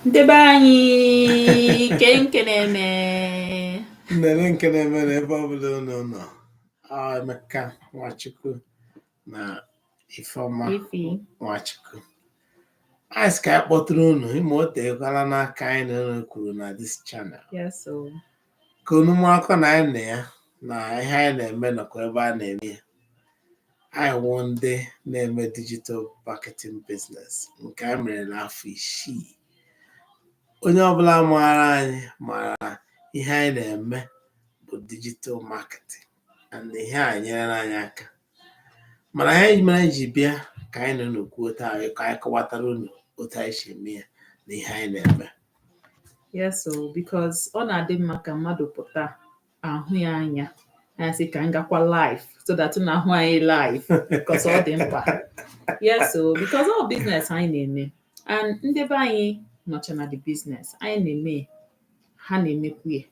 ndị be anyị kee nke na-eme nnele nke na-eme na ebe ọbụla unu nọ ọ emeka nwachukwu na ifeọma ifi nwachukwu anyị sị ka anyị kpọtụrụ unu ị ma o teekwala n'aka anyị na unu kwuru na this channel yes o ka unu marakwa na anyị na ya na ihe anyị na-eme nọkwa ebe a na-eme ya anyị wụ ndị na-eme digital marketing business nke anyị mere n'afọ isii onye ọbụla maara anyị maara na ihe anyị na-eme bụ digital marketing and ihe a enyerela anyị aka mana ihe mere anyị ji bịa ka anyị na unu kwuo taa ka anyị kọwatara unu otu anyị si eme ya na ihe anyị na-eme yes o because ọ na-adị mma ka mmadụ pụta ahụ ya anya anyị sị ka anyị gakwa live so that unu ahụ anyị live because ọ dị mkpa yes o because ọ business anyị na-eme and ndị be anyị nọcha na the business anyị na-eme ha na-emekwu ya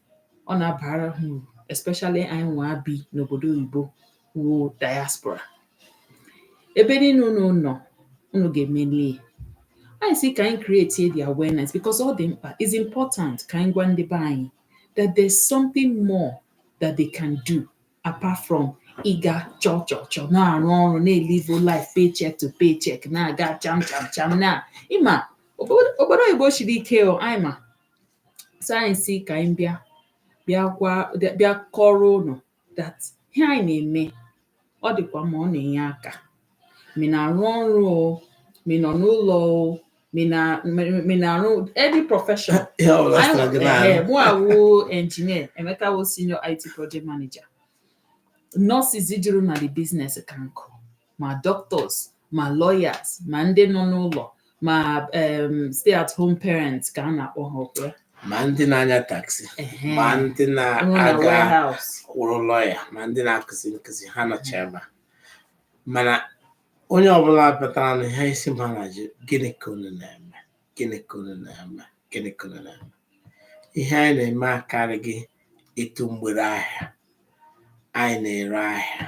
ọ na-abara ha uru especially anyị nwa bi n'obodo oyibo wụ diaspora ebe niile unu nọ unu ga-emeli ya anyị sị ka anyị create the awareness because ọ dị mkpa it's important ka anyị gwa ndị be anyị that there's something more that they can do apart from ịga chọọ chọọ chọọ na-arụ ọrụ na-elive life paycheck to paycheck na-aga cham cham cham na ị ma obodo obodo oyibo siri ike o anyị ma so anyị sị ka anyị bịa bịa gwa bịa kọrọ unu that ihe anyị na-eme ọ dịkwa mma ọ na-enye aka ma ị na-arụ ọrụ o ma ị nọ n'ụlọ o ma ị na ma ị na-arụ any profession ihe ọ bụla sịrị gị na-arụ Ehe, mụwa wụ engineer emeka wụ senior it project manager nurses juru na the business ka nkụ ma doctors ma lawyers ma ndị nọ n'ụlọ ma um, stay at home parents ka a na-akpọ ha ọ kwa ya. ma ndị na-anya taxi Ehe. ma ndị Rụrụ na na-aga warehouse. wụrụ lawyer ma ndị na-akụzi nkụzi ha nọcha ebe a mana onye ọbụla batara na ihe isi mbụ a na-ajụ gịnị ka unu na-eme gịnị ka unu na-eme gịnị ka unu na-eme ihe anyị na-eme akarịghị ịtụ mgbere ahịa anyị na-ere ahịa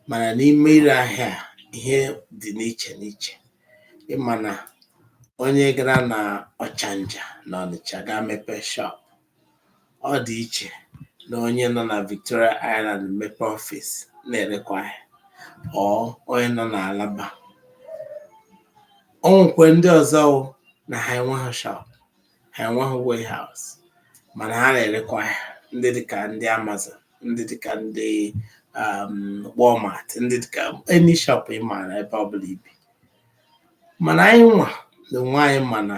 mana n'ime ire ahịa ihe dị n'iche n'iche ị ma na onye gara na ọchanja na ọnịcha gaa mepee shop Ọ dị iche na onye nọ na Victoria Island mepe ọfịs na-erekwa ahịa or onye nọ na Alaba. O nwekwa ndị ọzọ wụ na ha enweghị shop, ha enweghị warehouse mana ha na-erekwa ahịa ndị dịka ndị Amazon, ndị dịka ndị um, Walmart, ndị dịka any shop ị maara ebe ọ bụla i bi. Mana anyị nwa na onwe anyị ma na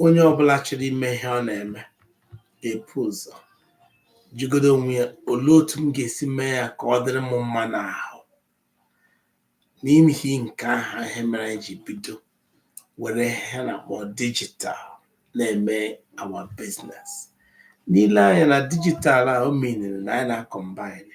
onye ọbụla chọrọ ime ihe ọ na-eme ga-epu ụzọ jụgodo onwe ya olee otu m ga-esi mee ya ka ọ dịrị m mma n'ahụ n'ihi nke ahụ ihe mere anyị ji bido were ihe a na-akpọ dijital na-eme our business n'ile anya na dijital a o meanere na anyị na-akọmbine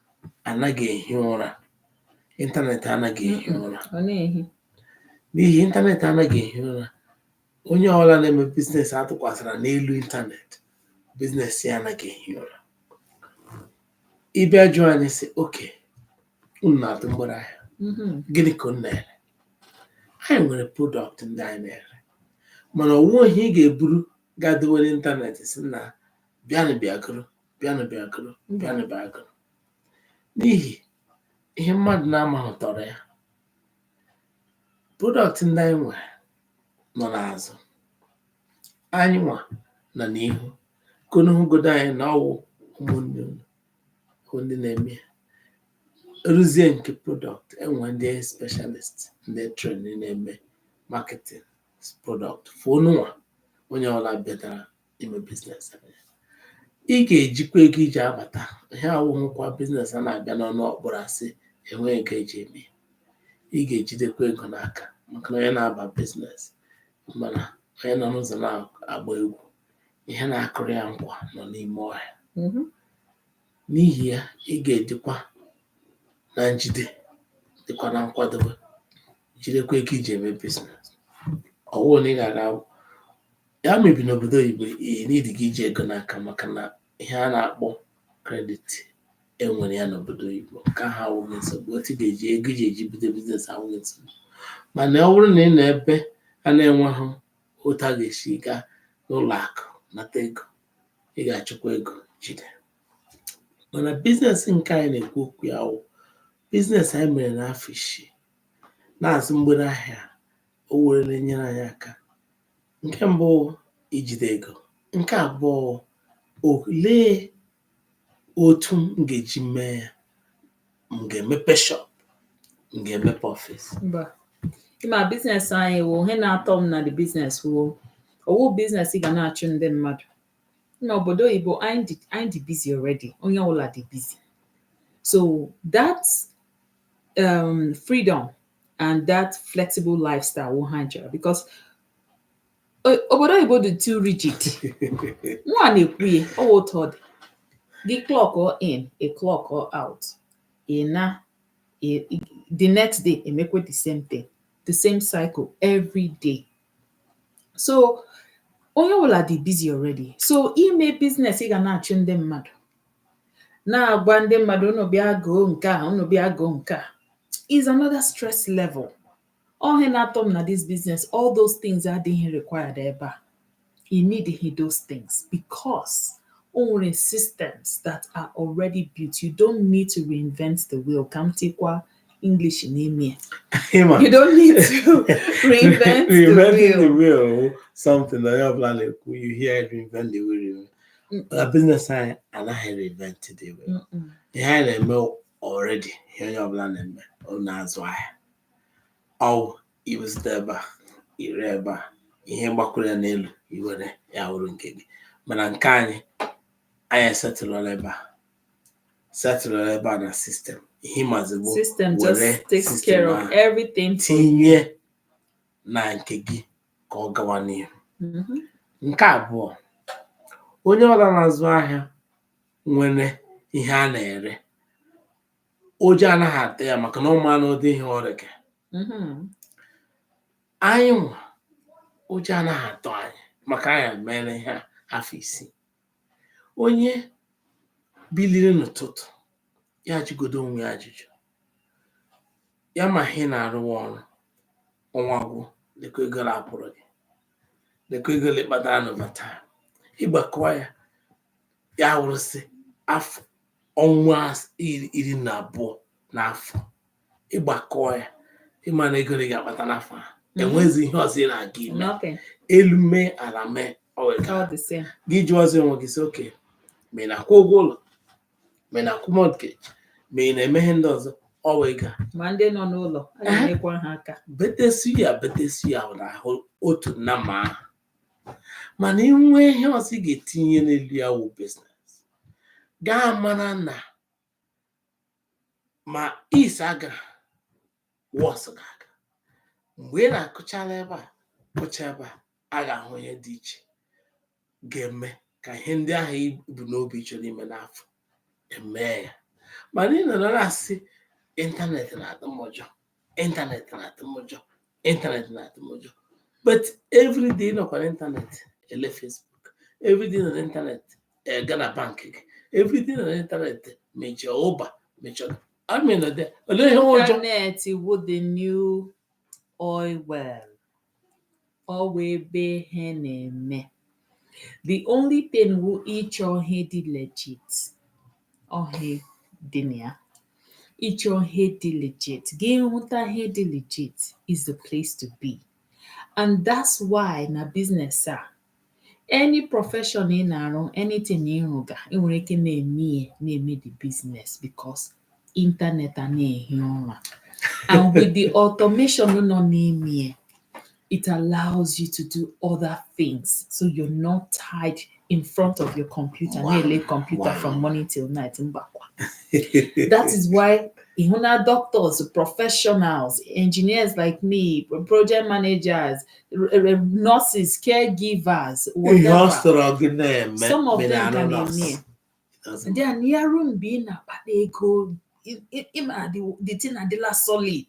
anaghị ehi ụra ịntanetị anaghị ehi ụra n'ihi ịntanetị anaghị ehi ụra onye ọbụla na-eme biznes a tụkwasịra n'elu ịntanetị biznes ya anaghị ehi ụra ị bịa jụọ anyị sị okay unu na-atụ mgbere ahịa Mhm. gịnị ka unu na-ere anyị nwere prodọktị ndị anyị na-ere mana o nweghị ihe ị ga-eburu gaa dowe n'ịntanetị sị na bịanụ bịa goro bịanụ bịa goro n'ihi ihe mmadụ na-amaghị tọrọ ya prodọktị ndị anyị nwe nọ n'azụ anyị nwa nọ n'ihu ka unu hụgodo anyị na ọwụ ụmụnne unu bụ ndị na-eme ya ruzie nke prodọktị e nwee ndị specialist ndị trained na-eme marketing prodọktị for unu nwa onye ọbụla bịatara ime biznes ị ga-ejikwa ego i ji abata ihe awụghịkwa biznes a na-abịa n'ọnụ ọkpọrọ a sị enweghị ego e ji eme ị ga-ejidekwa ego n'aka maka na onye na-aba biznes ma na onye nọ n'ụzọ na-agba egwu ihe na-akụrụ ya nkwa nọ n'ime ọhịa mhm. n'ihi ya ị ga-adịkwa na njide dịkwa na nkwadobe jidekwa ego i ji eme biznes ọwụụ na ị ga-aga ya maybe n'obodo oyibo i needighị iji ego n'aka maka na ihe a na-akpọ kredit e nwere ya n'obodo oyibo nke ahụ awụghị nsogbu otu ga-eji ego ị ga-eji bido biznes awụghị nsogbu mana ọ bụrụ na ị nọ ebe a na-enweghị otu a ga-esi gaa n'ụlọ akụ nata ego ị ga-achọkwa ego jide mana biznes nke anyị na-ekwu okwu ya wụ biznes anyị mere n'afọ isii na-azụ mgbere ahịa o were na-enyere anyị aka Nke mbụ wụ ijide ego. Nke abụọ wụ olee otu m ga-eji mee ya? M ga-emepe shop? M ga-emepe ọfịs? Mba. Ịma biznes anyị wụ ihe na-atọ m na the biznes wụ ọ wụ biznes ị ga na-achụ ndị mmadụ. Na obodo oyibo anyị dị anyị dị busy already. Onye ọbụla dị busy. So that um, freedom and that flexible lifestyle wụ ihe anyị chọrọ because uh, obodo oyibo dị too rigid nwa na-ekwu ya ọ wụ otu ọ dị gị clockuo in a clockuo out ị naa the next day emekwe the same thing the same cycle every day so onye ọbụla dị busy already so ime business ị ga na-achụ ndị mmadụ na-agwa ndị mmadụ unu bịa goo nke a unu bịa goo nke a is another stress level ọ ihe na-atọ m na this business all those things adịghị required ebe a ị needighi those things because o nwere systems that are already built you don't need to reinvent the wheel ka m tikwa English n'ime ya Ị ma, you don't need to reinvent the reinventing the wheel wheel something na onye ọbụla na-ekwu you hear it, reinvent the wheel reinvent. Mm. na biznes anyị anaghị reinvent the wheel Mm-mm. ihe anyị na-eme already ihe onye ọbụla na-eme ọ na-azụ ahịa ọ wụ ị zụta ebe a i ree ebe a ihe gbakwuru ya n'elu i were ya wụrụ nke gị mana nke anyị anyị esetụlụla ebe a setụlụ ebe a na sistem ihe ịmazi bụ System were just takes system care of ahụ everything. for you. tinye na nke gị ka ọ gawa n'ihu Mhm. nke abụọ onye ọbụla na-azụ ahịa nwere ihe a na-ere ụjọ anaghị atụ ya maka na ọ manụ ụdị ihe ọ reke Mhm. anyị nwa ụjọ anaghị atụ anyị maka anyị mere ihe a afọ isii onye biliri n'ụtụtụ ya jụgodu onwe ya ajụjụ ya ma ihe ị na-arụwa ọrụ ọnwa gwụ lekwa ego ole a kwụrụ gị lekwa ego ole i kpatara n'overtime ịgbakọwa ya ya wụrụsị afọ ọnwa as- iri iri na abụọ n'afọ ịgbakọ ya ịma na ego ole ị ga-akpata n'afọ a Mhm. enwezi ihe ọzọ ị na-aga ime Nothing. elu mee ala mee ọ wee ka All the same. gị jụọzi onwe gị sị okay ma ị na-akwụ ụgwọ ụlọ ma ị na-akwụ mortgage ma ị na-eme ihe ndị ọzọ ọ wụ ego a Ma ndị nọ n'ụlọ, a Aha. ga-enyekwa ha aka. betesi ya betesi ya ọ na-awụ otu nọmba ahụ mana inwe ihe ọzọ ị ga-etinye n'elu ya wụ biznes gaa mara na ma is aga was ga-aga mgbe ị na-akụchala ebe a kụcha ebe a a ga-ahụ ihe dị iche ga-eme ka ihe ndị ahụ i bu n'obi chọrọ ime n'afọ emee ya mana ị nọrọ na-asị ịntanetị na-atụ m ụjọ internet na-atụ m ụjọ internet na-atụ m ụjọ but everyday nọkwa na internet ele facebook everyday nọ na internet eh, gaa na bank gị everyday nọ na internet mechie ụba mechie I mean nọ there olee ihe nwe ụjọ Internet wụ the new oil well. ọ wụ ebe ihe na-eme the only thing wụ ịchọ ihe dị legit ohi dị na ya ịchọ ihe dị legit gị hụta ihe dị legit it's the place to be and that's why na business a any profession ị na-arụ anything ị rụga ị nwere ike na-eme ya na-eme the business because internet anaghị ehi ụra and with the automation nọ n'ime ya it allows you to do other things so you're not tied in front of your computer Wow. na-ele computer Wow. from morning till night mbakwa that is why ị hụ na doctors professionals engineers like me project managers nurses caregivers ihe ọ whatever sọrọ gị na-eme some of mere them anụ ka na-eme nọọsụ. ya Doesn't they are na-arụ mgbe ị na-akpata ego ị- ị- ị ma the the thing adịla solid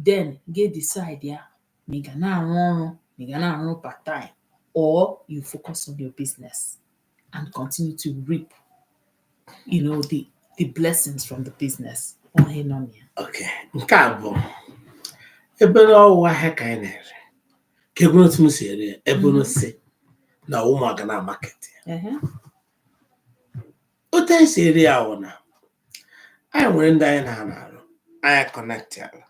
then gị decide ya ma ị ga na-arụ ọrụ ma ị ga na-arụ part time or you focus on your business and continue to reap you know the the blessings from the business onye nọ na ya okay nke a bụ ebere ọ wụ ahịa ka anyị na-ere ka ebere otu m si ere ya ebere si na ọ wụ m gaa na market ya Ehe. otu anyị si ere ya wụ na anyị nwere ndị anyị na-arụ arụ anyị connectala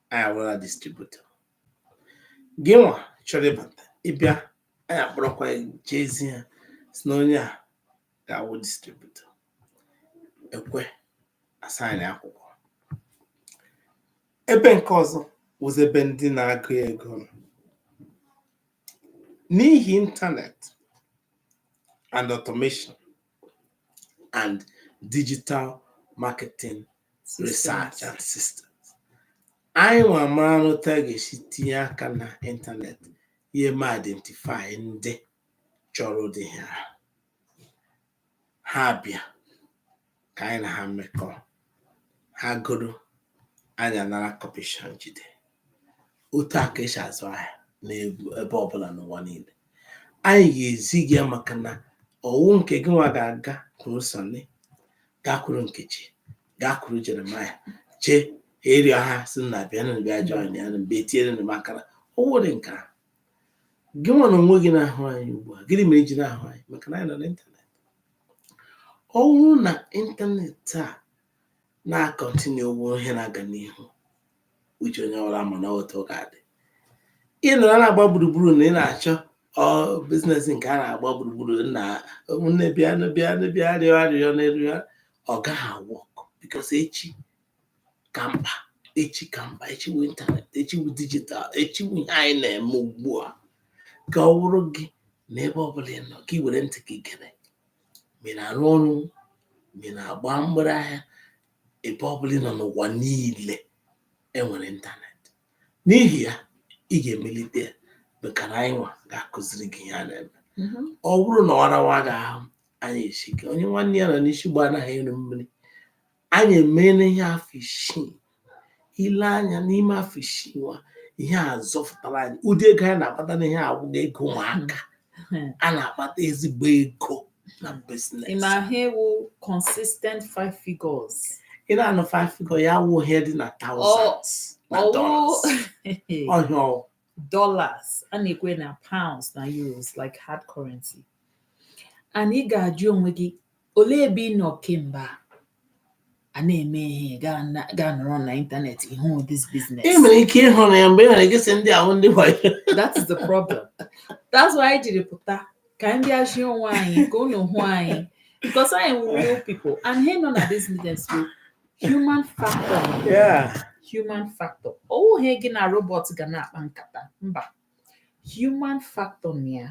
anyị awụla distributor gị nwa chọrọ ịbata ịbịa anyị akpọrọkwa ya jezi ha sị na onye a ga-awụ distributor e kwe a sign akwụkwọ ebe nke ọzọ wụzi ebe ndị na-agụ ego nọ. n'ihi ịntanetị and automation and digital marketing research and systems anyị nwa mara n'otu a ga-esi tinye aka na ịntanetị ihe ma identify ndị chọrọ ụdị ihe a ha bịa ka anyị na ha mekọọ ha goro anyị anara kọmishọn jide otu a ka esi azụ ahịa n'ebe ọbụla n'ụwa niile anyị ga-ezi gị ya maka na ọwụ nke gị nwa ga-agakwuru sọnị gakwuru nkechi gakwuru jeremaya jee rịọ ha sị na bịanụ bịa join ya mgbe etinyere m maka na ọ wụ dịka gị nwa na onwe gị na-ahụ anyị ugbu a gịnị mere i ji na-ahụ anyị maka na anyị nọ n'ịntanetị ọ bụrụ na ịntanetị a na-akọntinu ọ wụ ihe na-aga n'ihu echi onye ọbụla ma na otu ọ ga-adị ị nọrọ na-agba gburugburu na ị na-achọ bizinesi nke a na-agba gburugburu na ụmụnne bịa nụ, bịa nụ, bịa rịọ arịrịọ n'elu ya ọ gaghị awọk bikos echi ka mkpa echi ka mkpa echi wu ịntanet echi wu dijital echi wu ihe anyị na-eme ugbu a ka ọ wụrụ gị na ebe ọ bụla ị nọ ka ị were ntị gị gere ma ị na-arụ ọrụ ma ị na-agba mgbere ahịa ebe ọ bụla ị nọ n'ụwa niile enwere ịntanetị n'ihi ya ị ga-emelite ya maka na anyị nwa ga-akụziri gị ihe a na-eme Mhm. ọ bụrụ na ọ rawa gị ahụ anyị asị gị onye nwanne ya nọ n'isi ụgbọ anaghị eru mmiri anyị emeela ihe a afọ isii ile anya n'ime afọ isii nwa ihe a zọfụtara anyị ụdị ego anyị na-akpata n'ihe a awụghị ego ụmụaka Hmm. a na-akpata ezigbo ego na biznes ị na-ahụ consistent five figures ị na-anụ five figure ya wụ ihe dị na thousands na Ọwụ- dollars oh yeah dollars a na-ekwu na pounds na euros like hard currency and ị ga-ajụ onwe gị olee ebe ị nọ kemgbe a a na-eme ihe gaa na- gaa nọrọ na ịntanetị ịhụ this business ị nwere ike ịhụ na ya mgbe ị nwere ike sị ndị a wụ ndị wayo that is the problem that's why anyị jiri pụta ka anyị bịa zi onwe anyị ka unu hụ anyị because anyị wụ real people and ihe nọ na this business bụ human factor yeah. human factor ọ wụghị gị na robot ga na-akpa nkata mba human factor na ya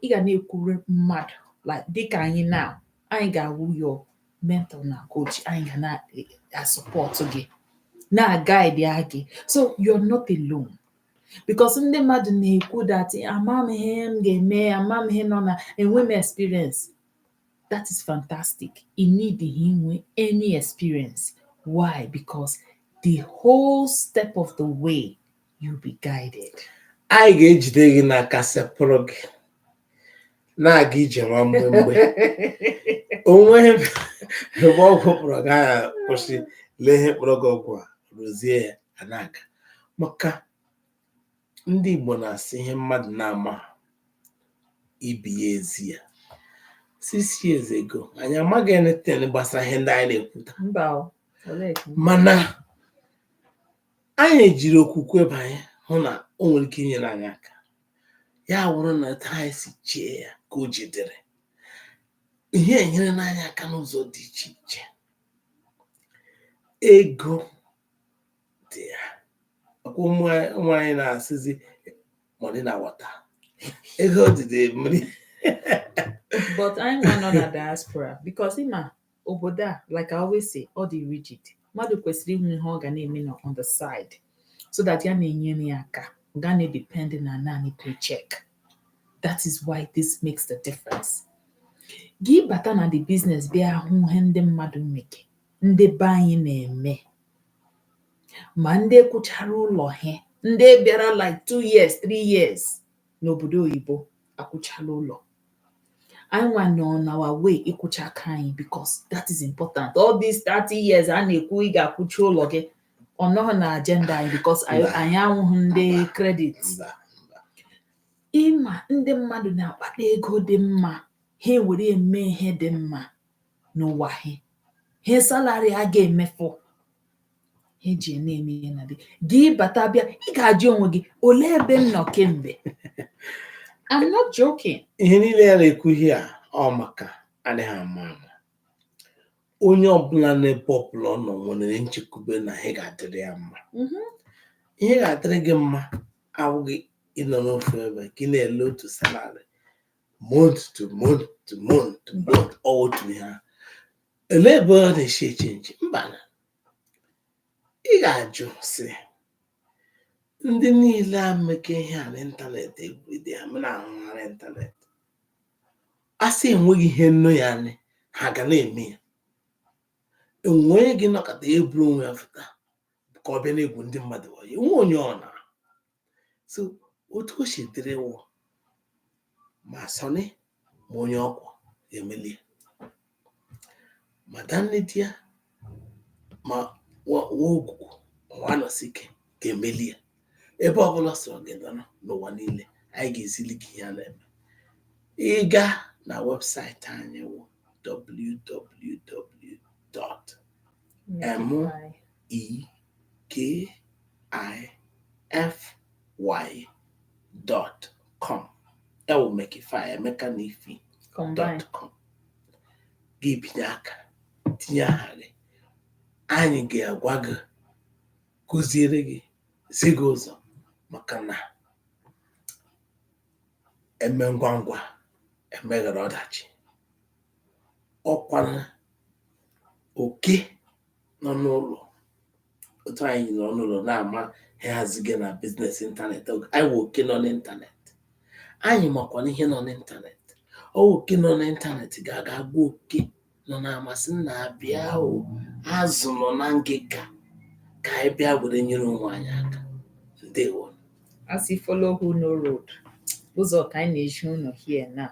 ị ga na-ekwuru mmadụ like dịka anyị now anyị ga-awụ your mentor na coach anyị ga na-asọpọtụ gị na-agaidi gị so you're not alone because ndị mmadụ na-ekwu that amam ihe m ga-eme amam ihe nọ na enwe m experience that is fantastic ị nidịghị inwe any experience why because the whole step of the way you'll be guided anyị ga-ejide gị n'aka sepụrụ gị na-aga ije nwa mbe mgbe o nwere ebe ogwu kpọrọ gị a ga-akwụsị lee ihe kpọrọ gị ogwu arụzie ya a na-aga maka ndị Igbo na-asị ihe mmadụ na-amaghị ibe ya ezi ya six years ago anyị amaghị anything gbasara ihe ndị anyị na-ekwuta mba o olee ka mana anyị jiri okwukwe banye hụ na o nwere ike inyere anyị aka ya awụrụ na etu anyị si chee ya ka o ji dịrị ihe enyerena anyị aka n'ụzọ dị iche iche ego dị ya ọkwa ụmụ anyị- ụmụ anyị na-asịzi money na water ego dịdị mmiri but anyị nwa nọ na diaspora because ị ma obodo a like I always say ọ dị rigid mmadụ kwesịrị inwe ihe ọ ga na-eme na on the side so that ya na-enyere ya aka ọ ga na-edepend na naanị paycheck that is why this makes the difference gị bata na the business bịa hụ ihe ndị mmadụ meke ndị be anyị na-eme ma ndị kwụchara ụlọ ha ndị bịara like two years three years n'obodo oyibo akwụchala ụlọ anyị nwa nọ na our way ịkwụcha nke anyị because that is important all these 30 years a na-ekwu ị ga-akwụcha ụlọ gị ọ nọghị na agenda anyị because anyị Mba. anyị awụghị ndị credit Mba. ị ma ndị mmadụ na-akpata ego dị mma ha ewere eme ihe dị mma na ọ wụghị ihe salary a ga-emefu ha ji ya na-eme ihe na dị gị bata bịa ị ga-ajụ onwe gị olee ebe m nọ kemgbe I'm not joking ihe niile ya na-ekwu ihe a ọ maka adịghị ama ama onye ọbụla n'ebe ọbụla ọ nọ nwere nchekwube na ihe ga-adịrị ya mma Mhm. ihe ga-adịrị gị mma awụghị ịnọ n'ofu ebe ka ị na-ele otu salari month to month to month to month ọ wụ otu ihe ahụ elee ebe ọ na-esi echange mbanụ ị ga-ajụ sị ndị niile a meke ihe a n'ịntanetị everyday m na-ahụ ha n'ịntanetị a sị enweghị ihe nọ ya anyị ha ga na-eme ya o nwe onye ga-anọkata eburu onwe ya fụta ka ọ bịa na-egwu ndị mmadụ wayo o nwe onye ọ na so otu o si dịrị wụ ma sọnị ma onye ọkwọ ga-emeli ya. ma danne di ya ma nwa Ogwugwu ma nwa Anọsike ga-emeli ya ebe ọbụla ọ sọrọ gị nọrọ n'ụwa niile anyị ga-ezili gị ihe a na-eme ị gaa na webụsaịtị anyị wụ M E K I F Y dot com ọ wụ Mekify Emeka na Ify dot com gị binye aka tinye aha gị anyị ga-agwa gị kụziere gị zi gị ụzọ maka na eme ngwa ngwa emeghara ọdachi ọ kwa na oke nọ n'ụlọ otu anyị nọ n'ụlọ na-ama ha haziga na biznes ịntanetị anyị wụ oke nọ n'ịntanetị anyị makwana ihe nọ n'ịntanetị ọ wụ oke nọ n'ịntanetị ga-aga gwa oke nọ n'ama sị nna bịa o azụ nọ na ngịga ka anyị bịa were nyere onwe anyị aka ndewo A sị follow who know road, ụzọ ka anyị na-ezi unu here now.